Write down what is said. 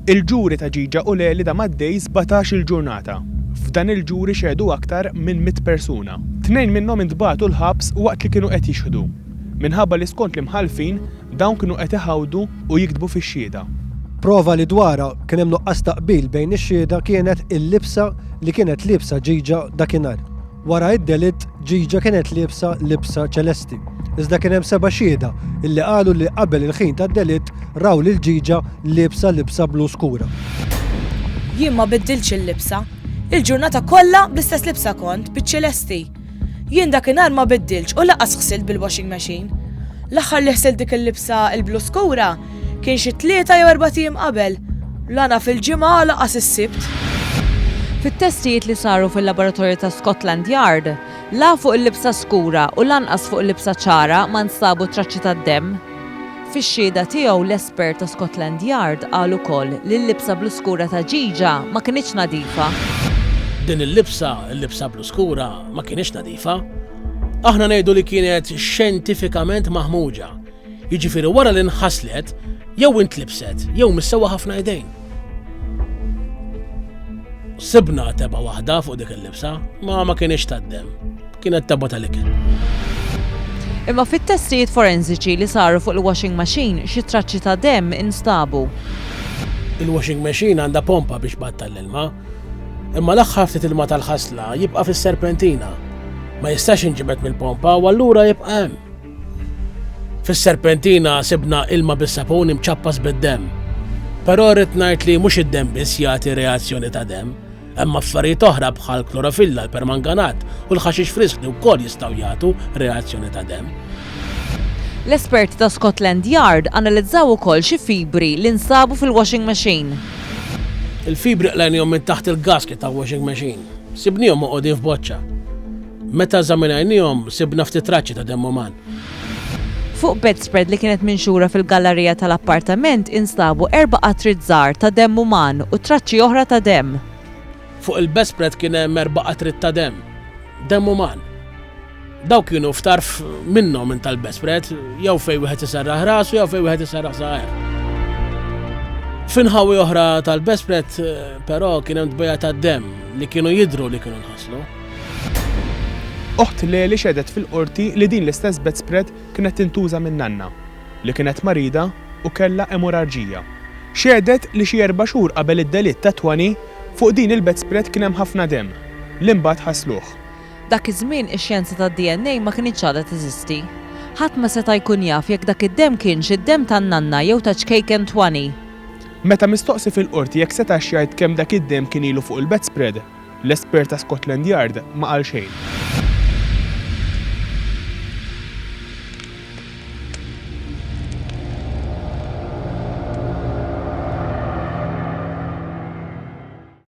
Il-ġuri ta' Ġiġa u Leli dam għaddej sbatax-il ġurnata. F'dan il-ġuri xehdu aktar minn mitt persuna. Tnejn minnhom intbagħtu l-ħabs waqt li kienu qed jixhdu, minħabba li skont l-imħallfin, dawn kienu qed iħawdu u jiktbu fix-xhieda. Prova li dwarha kien hemm nuqqas ta' qbil bejn ix-xhieda kienet il-libsa li kienet liebsa Ġiġa dakinhar. Wara d-delitt, Ġiġa kienet liebsa libsa ċelesti. Iżda kien hemm seba' xhieda illi qalu li qabel il-ħin tad-delitt raw lil Ġiġa liebsa libsa blu skura. Jien ma biddiltx il-libsa. Il-ġurnata kollha bl-istess libsa kont, biċ-ċelesti. Jien dakinhar ma biddiltx u lanqas ħsilt bil-washing machine. L-aħħar li ħsilt dik il-libsa l-blu skura Kien xi tlieta jew erbat ijiem qabel, la naf il-Ġimgħa u lanqas is-Sibt. Fit-testijiet li saru fil-laboratorju ta' Scotland Yard, la fuq il-libsa skura u lanqas fuq il-libsa ċara ma nstabu traċċi tad-demm. Fix-xhieda tiegħu l-espert ta' Scotland Yard qal ukoll li l-libsa blu skura ta' Ghigia ma kinitx nadifa. Din il-libsa, il-libsa blu skura, ma kinitx nadifa. Aħna ngħidu li kienet xjentifikament maħmuġa. Jiġifieri wara li nħaslet, jew intlibset, jew missewwa ħafna idejn. Sibna teba waħda fuq dik il-libsa, ma ma kienx taddem. Kienet teba tal-ikel. Imma fit-testijiet forensiċi li saru fuq il-washing machine xi traċċi ta' dem instabu. Il-washing machine għandha pompa biex battal l-ilma, imma l-aħħar ftit ilma tal-ħasla jibqa' fis-serpentina. Ma jistax inġibed mill-pompa u allura jibqa' hemm. Fis-serpentina sibna ilma bis-sapun imċappas bid-demm. Però rrid ngħid li mhux id-demm biss jagħti reazzjoni ta' demm. Hemm affarijiet oħra bħal klorofilla, l-permanganat u l-ħaxix frisk li wkoll jistgħu jagħtu reazzjoni ta' demm. L-esperti ta' Scotland Yard analizzaw ukoll xi fibri li nsabu fil-washing machine. Il-fibri qlejnihom minn taħt il-gasket tal-washing machine. Sibnihom moqogħdin f'boċċa. Meta eżaminajniehom, sibna ftit traċċi ta' demm uman. Fuq bedspread li kienet minxura fil-gallarija tal-appartament instabu erba' qatriet żgħar ta' demm uman u traċċi oħra ta' demm. Fuq il-bedspread kien hemm erba' qatriet ta' demm. Demm uman. Dawk kienu f'tarf minnhom minn tal-bedspread, jew fejn wieħed iserraħ rasu jew fejn wieħed iserraħ żgħar. F'inħawi oħra tal-bedspread, però, kien hemm tbejja ta' demm li kienu jidhru li kienu nħaslu. Oħt Leli xehdet fil-Qorti li din l-istess bedspread kienet tintuża minn nanna, li kienet marida u kellha emorarġija. Xehdet li xi erba' xhur qabel id-delitt ta' Twani, fuq din il-bedspread kien hemm ħafna demm, li mbagħad ħasluh. Dak iż-żmien ix-xjenza tad-DNA ma kinitx għadha teżisti. Ħadd ma seta' jkun jaf jekk dak id-demm kienx id-demm tan-nanna jew ta' ċkejken Twani. Meta mistoqsi fil-Qorti jekk setax jgħid kemm dak id-demm kien ilu fuq il-bedspread, L-espert ta' Scotland Yard ma qal xejn.